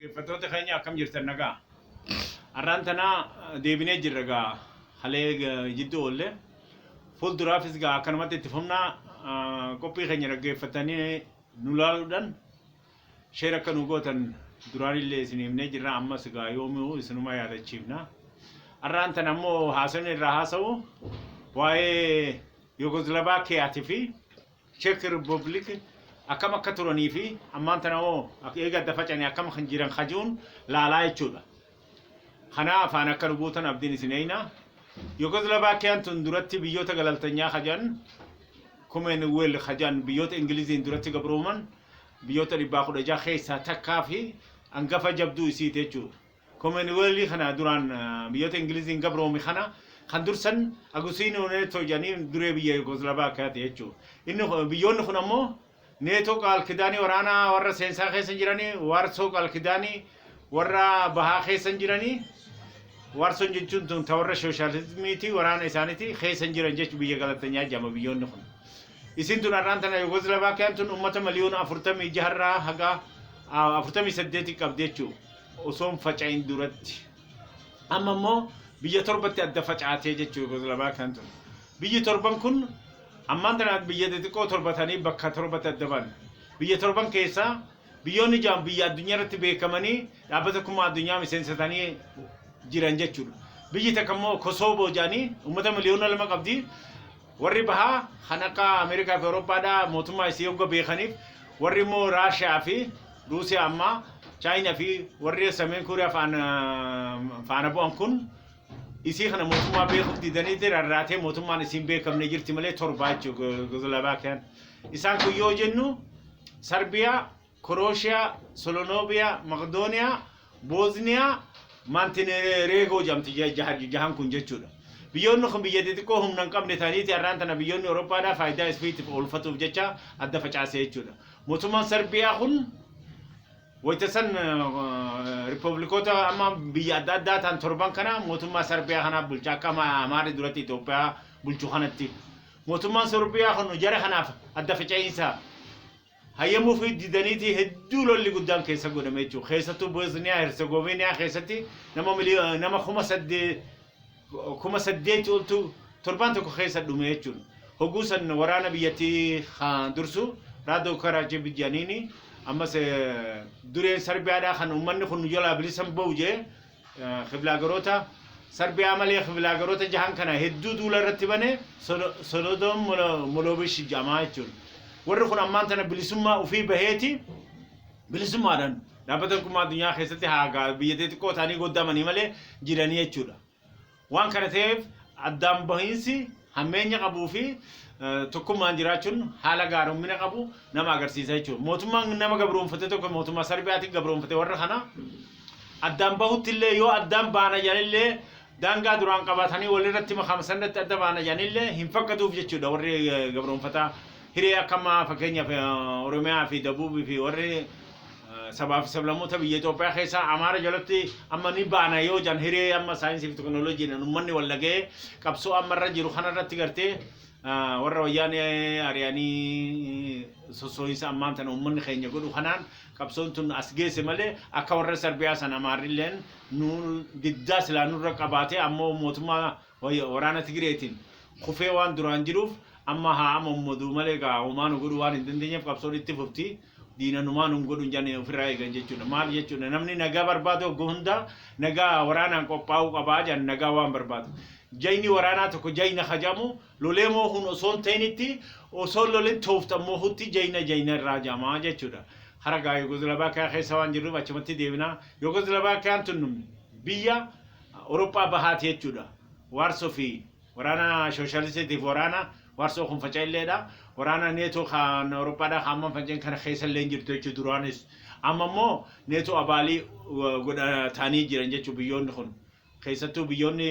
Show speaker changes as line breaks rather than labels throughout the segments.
Dhaggeeffattoota keenya akkam jirtan nagaa? Har'aan tana deebinee jirra egaa halee jidduu oolle. Fuulduraafis egaa akkanumatti itti fufna qophii keenya dhaggeeffatanii nu laaluudhaan sheer akka nu gootan duraanillee isin himnee jirra ammas egaa yoomuu isinuma yaadachiifna. Har'aan tana ammoo haasofni irraa haasa'u waa'ee Yugoslaavaakiyaatii fi Cheek Rippoobliik akkam akka turanii fi ammaan tana hoo eega adda facane akkam kan jiran kajuun laalaa jechuu dha. Kanaa afaan akka nu buutan abdiin isin eeyna. Yugoslavakiyaan tun duratti biyyoota galaltanyaa kajan Kumeen Wel kajan biyyoota Ingiliziin duratti gabrooman biyyoota dhibbaa kudha ja'a keessaa takkaa fi angafa jabduu isiiti jechuu dha. Komeeniweelii kana duraan biyyoota Ingiliziin gabroome kana kan dursan Agusiinoo Neetoo jedhanii duree biyya Yugoslaavaakiyaati jechuudha. Inni biyyoonni kun ammoo Neetoo qaalkidaanii waraanaa warra seensaa keessa hin jiranii, Waarsoo qaalkidaanii warra bahaa keessa hin jiranii, Waarsoon jechuun tun ta warra shooshaalizmiitii waraana isaaniitii keessa hin jiran jechuun biyya galatanyaa jedhama biyyoonni kun. Isiin tun har'aan tana Yugoslaavaakiyaan tun uummata miliyoona afurtamii jaharraa haga afurtamii saddeetii qabdi jechuudha. osoo hin faca'in duratti amma immoo biyya torbatti adda facaatee jechuu Yugoslaavaa kan ture. Biyyi torban kun ammaan tana biyya xixiqqoo torba ta'anii bakka torbatti adda ba'an. Biyya torban keessaa biyyoonni ja'an biyya addunyaa irratti beekamanii dhaabbata tokkummaa addunyaa miseensa ta'anii jiran jechuudha. Biyyi takka immoo Kosooboo jedhanii uummata miliyoona lama qabdi. Warri bahaa kan akka Ameerikaa fi Awurooppaa dha mootummaa isii hogga beekaniif warri immoo Raashiyaa fi Ruusiyaa ammaa Chaayina fi warri Sameen Kuuriyaa faana faana bu'an kun isii kana mootummaa beekuuf didaniiti rarraatee mootummaan isiin beekamne jirti malee torbaa jechuudha Gozlaavaakiyaan. Isaan kun yoo jennu Sarbiyaa Korooshiyaa, Solonooviyaa, Maqdooniyaa, Boozniyaa, Maantinereegoo jedhamti jahan kun jechuudha. Biyyoonni kun biyya xixiqqoo humna hin qabne ta'aniiti har'aan tana biyyoonni Awurooppaadhaa faayidaa isfiitiif oolfatuuf jecha adda facaase jechuudha. Mootummaan Sarbiyaa kun wayita san riippablikoota amma biyya adda addaa ta'an torban kana mootummaa Sarbiyaa kanaaf bulcha akka Amaarri duratti Itoophiyaa bulchu kanatti. Mootummaan Sorbiyaa kun jara kanaaf adda faca'iinsa hayyamuufii didaniitii hedduu lolli guddaan keessa godhame jechuudha. Keessattuu Boosniyaa Herzegoviiniyaa keessatti nama miliyoo nama kuma saddee kuma saddeetti oltu torbaan tokko keessa dhume jechuudha. Hogguu san waraana biyyattii kan dursu Raadoo Karaachii Bijjaaniini ammas eh, dureen Sarbiyaadhaa kan uummanni kun nu jalaa bilisan ba'u jee Kiblaagarota Sarbiyaa malee kiblaagarota jahan kana hedduu duula irratti bane Solodoon Moloobish jedhamaa jechuun. Warri kun ammaan tana bilisummaa ofii baheeti bilisummaadhaan dhaabbata tokkummaa addunyaa keessatti haagaa biyya xixiqqoo ta'anii goddamanii malee jiranii jechuudha. Waan kana ta'eef addaan bahiinsi hammeenya qabuu fi tokkummaan jiraachuun haala gaarommina qabu nama agarsiisa jechuudha. Mootummaan nama gabroomfate tokko mootummaa Sarbiyaatiin gabroomfate warra kana addaan bahutti illee yoo addaan baana jedhanillee daangaa duraan qabaatanii walirratti makaama sanatti adda baana jedhanillee hin fakkatuuf jechuudha warri gabroomfataa. Hiree akka ammaa fakkeenyaaf Oromiyaa fi Dabuubii fi warri sabaa fi sablammoota biyya Itoophiyaa keessaa Amaara jalatti amma ni baana yoo jedhan hiree amma saayinsii fi teknooloojiidhaan uummanni wal dhaga'ee qabsoo amma irra jiru kana irratti gartee warra wayyaanee ari'anii sossoo'insa ammaan tana uummanni keenya godhu kanaan qabsoon tun as geesse malee akka warra Sarbiyaa san Amaarrilleen nu diddaa silaa nurra qabaatee ammoo mootummaa Wayyo waraana Tigreetiin kufee waan duraan jiruuf amma haa amommoduu malee gaa homaa nu godhuu waan hin dandeenyeef qabsoon itti fufti diina numaa nun godhu hin jane ofirraa eegan jechuudha. Maal jechuudha namni nagaa barbaadu hogga hundaa nagaa waraanaan qophaa'uu qabaa jedhan nagaa waan barbaadu. Jayni waraanaa tokko jayna ka jedhamu lolee moohuun osoo hin ta'initti osoo hin lolin tooftan moohutti jayna jayna irraa jedhama jechuudha. Hara gaa Yugozlavaakiyaa keessa waan jirruuf achumatti deebina. Yugozlavaakiyaan tun biyya Awurooppaa Bahaati jechuudha. Waarsoo fi waraana Shooshaalistitiif waraana Waarsoo kun faca'illeedha. Waraana Neetoo kan Awurooppaadhaa kan amma fanca'een kana keessa illee hin jirtu jechuudha duraanis. Amma immoo Neetoo abaalii godhataanii jiran jechuudha biyyoonni kun. Keessattuu biyyoonni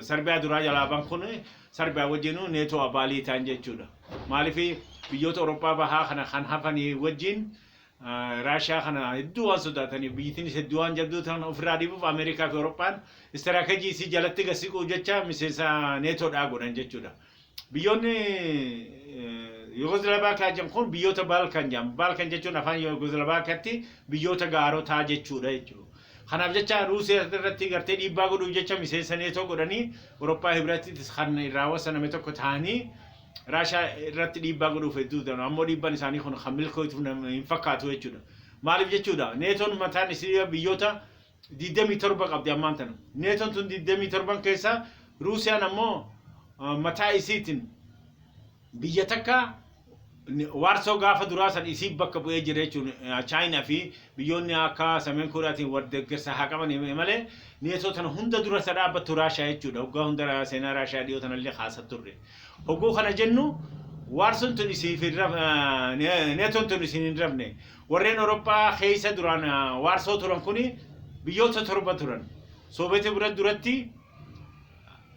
Sarbiyaa duraa jalaa bahan kun Sarbiyaa wajjinuu Neetoo abaalii ta'an jechuudha. Maaliif biyyoota Awurooppaa Bahaa kana kan hafanii wajjin Raashiyaa kana hedduu waan sodaataniif biyyittiinis hedduu waan jabduu ta'an ofirraa dhiibuuf Ameerikaa fi Awurooppaan istiraakajii isii jalatti gad siquu jecha miseensa neetoodhaa godhan jechuudha. Biyyoonni Yugoslaavaakiyaa jedhan kun biyyoota Baalkan jedhamu. Baalkan jechuun afaan Yugoslaavaakiyaatti biyyoota gaarotaa jechuudha jechuudha. Kanaaf jecha Ruusiyaa irratti gartee dhiibbaa godhuuf jecha miseensa neetoo godhanii Awurooppaa Hibratittis kan irraa wasaname tokko ta'anii Raashaa irratti dhiibbaa godhuuf hedduu ta'an ammoo dhiibbaan isaanii kun kan milkooytu nama hin fakkaatu jechuudha. Maaliif jechuudha neetoon mataan isii biyyoota 27 qabdi ammaan tana. Neetoon tun 27 keessaa Ruusiyaan ammoo ah, mataa isiitiin biyya takka ni- waarsoo gaafa duraa san isii bakka bu'ee jira jechuun eh, chaayinaa fi biyyoonni akka sameen kooriyaatiin wal deeggarsa haa qaban hime malee neetoo tana hunda dura isa dhaabbattu raashaa jechuudha hoggaa hunda ra- seenaa raashaa dhiyoo tanallee kaasa turre Hogguu kana jennu Waarsoon tun isiif hin raf, eh, Neetoon tun isin hin rafne. Warreen Oroppaa keessa duraan eh, Waarsoo turan kuni biyyoota torba turan. Soobeetii bira duratti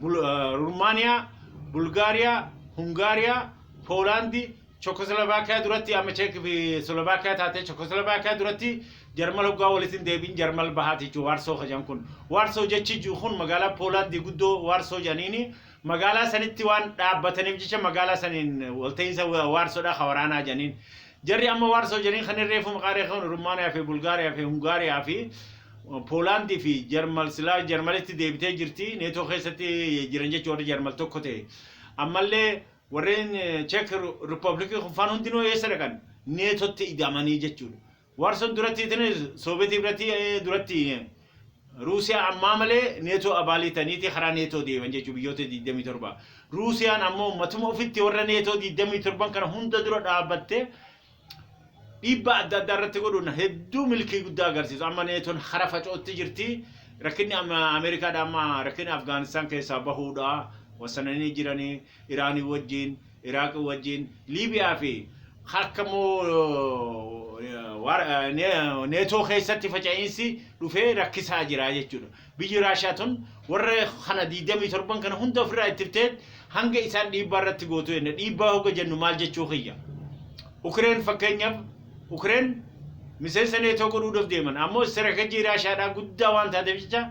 Bul- eh, Rumaaniyaa, Bulgaariyaa, Hungaariyaa, Poolaandi, Chekoslovaakiyaa duratti amma Cheek fi Slovaakiyaa taatee Chekoslovaakiyaa duratti Jarmal hoggaa walitti hin deebiin Jarmal bahaati jechuudha Waarsoo kajan kun. Waarsoo jechi jiru kun magaalaa Poolaandii guddoo Waarsoo janiini magaalaa sanitti waan dhaabbataniif jecha magaalaa saniin walta'iinsa waarsodhaa ka waraanaa jedhaniin. Jarri amma waarsoo jedhaniin kanneen reefu maqaa reefu Rumaaniyaa fi Bulgaariyaa fi Hungaariyaa fi Poolaandii fi Jarmal silaa Jarmalitti deebitee jirti neetoo keessatti jiran jechuun warri Jarmal tokko ta'e. Ammallee warreen Cheek Rippoobilikii kun faan hundinuu eessa dhaqan neetotti ida'amanii jechuudha. Warson durattii tini Sovetii biratii eh, durattii eh, Ruusiyaa ammaa malee neetoo abaalii taniiti karaa neetoo deeman jechuu biyyoota 27. Ruusiyaan ammoo matuma ofitti warra neetoo 27 kana hunda dura dhaabatte dhiibbaa adda addaa irratti godhuun hedduu milkii guddaa agarsiisu. Amma neetoon hara facootti jirti. Rakkinni amma Ameerikaadha amma rakkinni Afgaanistaan keessaa bahuudha. Wasananii jiranii. Iraanii wajjiin, Iraaqi wajjiin, Liibiyaa fi akka immoo war- ne- neetoo keessatti faca'iinsi dhufee rakkisaa jira jechuudha. Biyyi Raashiyaa tun warra kana 27 kana hunda ofirraa ittiftee hanga isaan dhiibbaa irratti gootu jenna. Dhiibbaa hoga jennu maal jechuu kiyya? Ukireen fakkeenyaaf Ukireen miseensa neetoo godhuudhaaf deeman ammoo istirakajii Raashiyaadhaa guddaa waan taateef jecha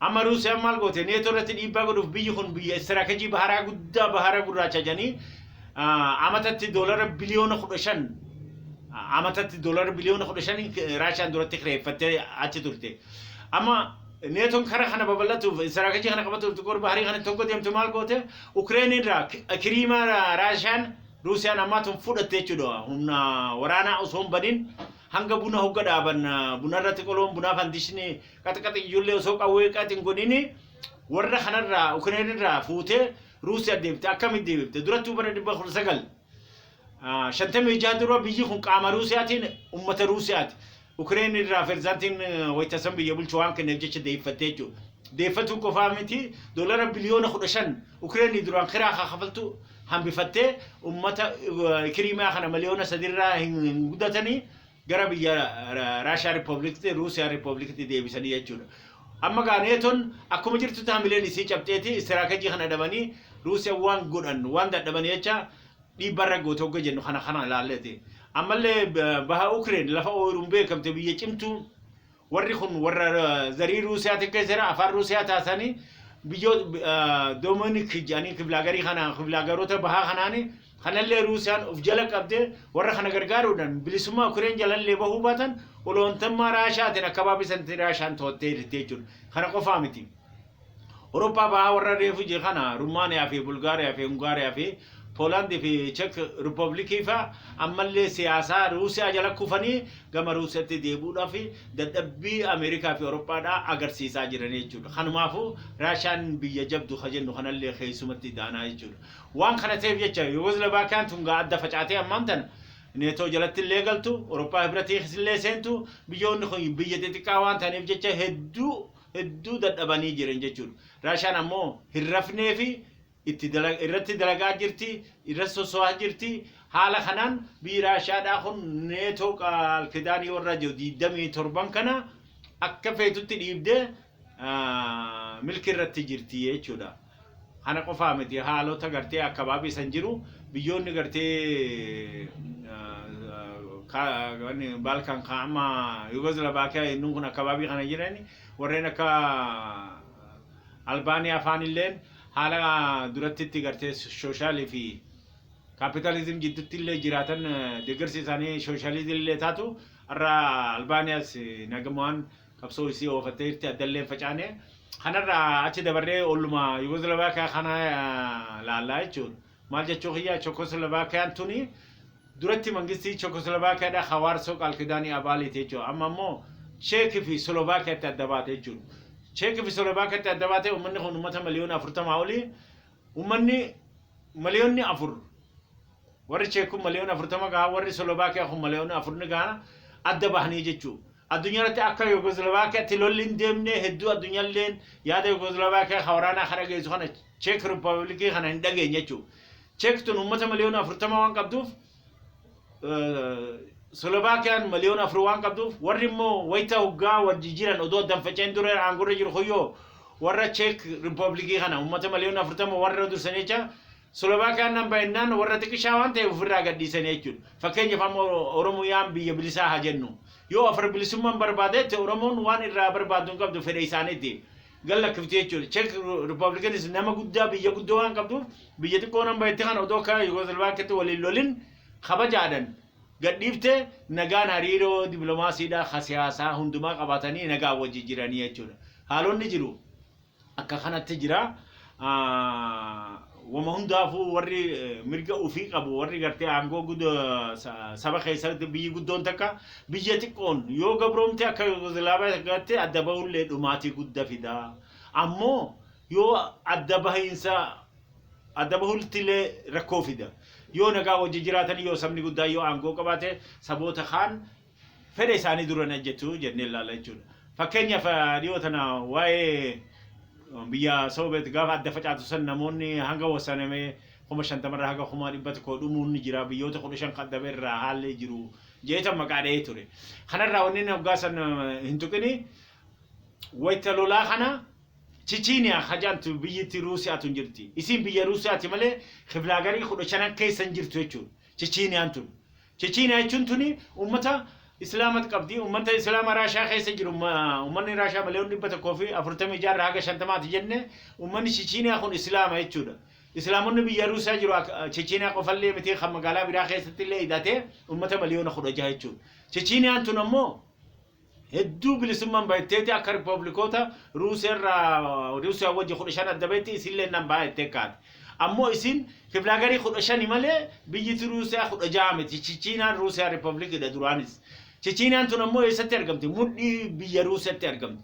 Amma Ruusiyaan maal goote? Neetoo irratti dhiibbaa godhuuf biyyi kun biyya istiraakajii baharaa guddaa bahara gurraacha jedhanii amatatti doolara biliyoona kudha shan amatatti doolara biliyoona kudha shan Raashiyaan duratti kireeffattee achi turte. Amma neetoon kara kana babal'atuuf istiraakajii kana qabatuuf xiqqoor baharii kana tokko deemtu maal goote? Ukireen irraa kiriimaa Raashiyaan Ruusiyaan ammaa tun fudhatte jechuudha. Humna waraanaa osoo hin badin hanga buna hogga dhaaban bunarratti qoloon bunaa fandishni Qaxqax iyyuullee osoo qawwee qax hin godhini warra kanarraa Ukireen irraa fuutee Ruusiyaa deebite akkamitti deebifte durattuu bara dhibba kudha sagal shantamii jaha dura biyyi kun qaama Ruusiyaatiin uummata Ruusiyaati. Ukireen irraa pirezidaantiin wayita san biyya bulchu waan kenneef jecha deeffattee jechuudha. Deeffatuu qofaa miti doolara biliyoona kudha shan Ukireenii duraan kiraa haa kafaltu hambifattee uummata Kiriimiyaa kana miliyoona sadiirraa hin gudatanii gara biyya Raashiyaa Riippooblikiti, Ruusiyaa Riippooblikiti deebisanii jechuudha. Amma gaa neetoon akkuma jirtutti hamileen isii cabxeeti istiraakajii kana dhabanii Ruusiyaa waan godhan waan dadhaban jecha dhiibbarra goote hogga jennu kana kana ilaalleeti. Ammallee baha Ukireen lafa ooyiruun beekamte biyya cimtuu Warri kun warra zarii Ruusiyaa xiqqeessa jira, afaan Ruusiyaa taasisanii biyyoota Doominik jedhanii kibilaagarii kana kibilaagaroota bahaa kanaani kanallee Ruusiyaan of jala qabdee warra kana gargaaruudhaan bilisummaa Ukireen jalallee bahuu baatan oloontummaa Raashaatiin akkabaabbii sanatti Raashaan to'attee jirti jechuudha. Kana qofaa miti. Awurooppaa Bahaa warra reefu je kana Rumaaniyaa fi Bulgaariyaa fi Hungaariyaa fi Poolaandii fi Chek Rippablikii fa ammallee siyaasaa Ruusiyaa jala kufanii gama Ruusiyatti deebi'uudhaaf dadhabbii Ameerikaa fi Awurooppaadhaa agarsiisaa jiranii jechuudha. Kanumaafuu Raashiyaan biyya jabdu ka jennu kanallee keessumatti daanaa jechuudha. Waan kana ta'eef jecha Yugoslabaakiyaan tun gaa adda facaatee ammaan tana Neetoo jalattillee galtu, Awurooppaa Hibratiisillee seentu, biyyoonni kun biyya xixiqqaa waan ta'aniif jecha hedduu hedduu dadhabanii jiran jechuudha. Raashaan ammoo hin rafnee fi itti dala- irratti dalagaa jirti, irratti soso'aa jirti. Haala kanaan biyyi Raashaadhaa kun neetoo qaal kidaanii warra jiru 27 kana akka feetutti dhiibdee ah, milki irratti jirti jechuudha. Kana qofaa miti haalota gartee akkabaabii san jiru biyyoonni gartee Baalkan kaama Yugoslabaakii yennuun kun akkabaabii kana jiran warreen akka Albaaniyaa faan illeen haala duratti itti gartee sooshaali fi kaapitaalizim jiddutti illee jiraatan deeggarsi isaanii sooshaalizim illee taatu irra Albaaniyaas nagamaan qabsoo isii oofattee jirti addallee hin facaane. Kanarraa achi dabarree olluma Yugoslavakiyaa kana laallaa jechuun maal jechuu kiyya Chokoslavakiyaan tuni duratti mangistii Chokoslavakiyadha ka Waarsoo qaalkidaanii abaaliiti jechuudha. Amma ammoo Cheek fi Slovakiyaatti adda baate jechuudha. Cheek fi Slovakiyaatti adda baate uummanni kun uummata miliyoona afurtamaa oli uummanni miliyoonni afur Warri Cheek kun maliyoona 40 gaha, warri Solobaakiyaa kun maliyoona 4 ni gahana adda bahanii jechuu. Addunyaa irratti akka Yugozlavaakiyaatti lolli hin deemne hedduu addunyalleen yaada Yugozlavaakiyaa ka waraanaa ka dhageessu kana Cheek Rippabilikii kana hin dhageenye jechuu. Cheek tun uummata maliyoona 40 waan qabduuf Solobaakiyaan maliyoona 4 waan qabduuf warri immoo wayita hoggaa wal jijjiiran odoo addan faca'een dura aangorra jiru kuyyoo warra Cheek Rippabilikii kana uummata maliyoona 40 warra dursanii jecha Slovakia nan bahe jennaan warra xiqishaa waan ta'eef ofirraa gadhiisanii jechuudha. Fakkeenyaaf amma Oromiyaan biyya bilisaa haa jennu. Yoo afra bilisummaan barbaade jette Oromoon waan irraa barbaaddu hin qabdu fedha isaaniiti. Gad lakkifti jechuudha. Czech Republicans nama guddaa biyya guddoo waan qabduuf biyya xiqqoo nan bahetti kana odoo akka Yugoslaviyaatti waliin lolin kabajaadhan gad dhiifte nagaan hariiroo diplomaasiidhaa ka siyaasaa hundumaa qabaatanii nagaan wajji jiranii jechuudha. Haalonni jiru. Akka kanatti jira. Wama hundaafuu warri mirga ofii qabu warri gartee aangoo guda saba keessatti biyyi guddoon takka biyya xiqqoon yoo gabroomte akka Yugoslaavaatti adda bahullee dhumaatii gudda fida. Ammoo yoo adda bahiinsa adda bahultillee rakkoo fida. Yoo nagaa wajji jiraatan yoo sabni guddaan yoo aangoo qabaate saboota kaan fedha isaanii dura hin hojjetu jennee ilaalla jechuudha. Fakkeenyaaf dhiyoo tana waa'ee biyya Soobeet gaafa adda facaatu san namoonni hanga wasaname kuma shantama irraa haga kuma dhibba tokko dhumuun ni jira biyyoota kudha shan kan dhabe irraa haalli jiru jeetan maqaa dha'ee ture. Kanarraa wanni inni hoggaa san hin tuqini wayita lolaa kana Chichiiniyaa hajaantu biyyatti Ruusiyaatu hin jirti. Isiin biyya Ruusiyaati malee kiblaa garii kudha shanan keessa hin jirtu jechuudha. Chichiiniyaan tun. Chechiiniyaa jechuun tuni ummata Islaamatu qabdi. Ummata Islaama Raashaa keessa jiru ummanni Raashaa miliyoon dhibba tokkoo fi afurtamii jaarraa haga shantamaati jenne ummanni Chechiiniyaa kun Islaama jechuudha. Islaamonni biyya Ruusiyaa jiru Chechiiniyaa qofallee miti kan magaalaa biraa keessatti illee hidhatee ummata miliyoona kudha jaha jechuudha. Chechiiniyaan tun ammoo hedduu bilisumman bahetteeti akka republikoota Ruusiyaa irraa Ruusiyaa wajji 15 adda bahetti isillee nan baha jettee kaate. Ammoo isin kiflaagarii 15 malee biyyiti Ruusiyaa 16 miti. Chichiinaan Ruusiyaa republikiidha duraanis. Chichiinaan tun ammoo eessatti argamti? Mudhii biyya Ruusiyatti argamti.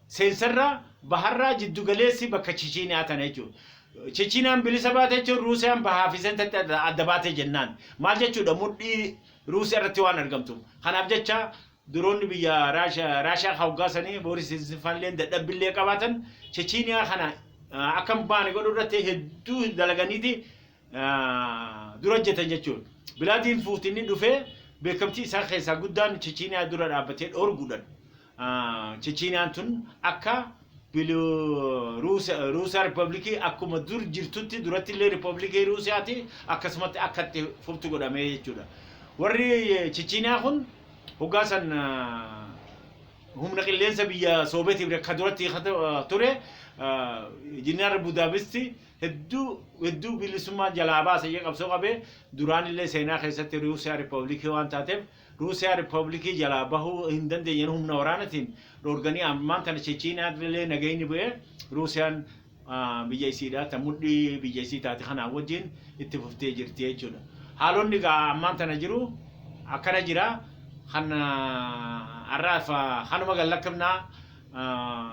Seensarraa, baharraa, jiddu galeessi bakka Chichiiniyaa tana jechuudha. Chichiiniyaan bilisa baate jechuun Ruusiyaan bahaa fi seentatti adda adda baate jennaan. Maal jechuudha mudhii Ruusiyaa irratti waan argamtuuf. Kanaaf jecha duroonni biyya Raashiyaa Raashiyaa ka hoggaa sanii Booris Isfaalleen dadhabbillee qabaatan Chichiiniyaa kana ah, akka hin baane godhuu irratti hedduu dalaganiiti ah, dura hojjetan jechuudha. Bilaadiin Puutinni dhufee beekamtii isaa keessaa guddaan Chichiiniyaa dura dhaabbatee dhoorguudhaan. Chechiiniyaan tun akka Ruusiyaa Rippabilikii akkuma dur jirtutti duratti illee Rippabilikii Ruusiyaati akkasumatti akka itti fuftu godhamee jechuudha. Warri Chechiiniyaa kun hoggaa san humna qilleensa biyya Soobeetiif akka duratti ture Injinaar Budaabisti hedduu hedduu bilisummaa jalaa baasa jee qabsoo qabee duraan illee seenaa keessatti Ruusiyaa Rippabilikii waan taateef Ruusiyaa Rippablikii jalaa bahuu hin dandeenyeen humna waraanatiin dhoorganii ammaan tana Chechiinaa illee nagayni bu'ee Ruusiyaan biyya isiidhaa ta mudhii biyya isii taate kanaa wajjiin itti fuftee jirti jechuudha. Haalonni egaa ammaan tana jiru akkana jira kan har'aaf kanuma gad lakkifna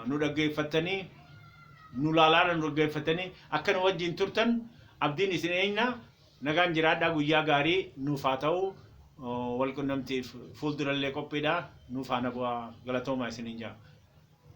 nu dhaggeeffattanii nu laalaadha nu dhaggeeffattanii akka nu wajjiin turtan abdiin isin eegna. Nagaan jiraadhaa guyyaa gaarii nuuf haa ta'u walqunnamtiif fuuldurallee qophiidha nuuf faana bu'aa galatoomaa isiniin jedha.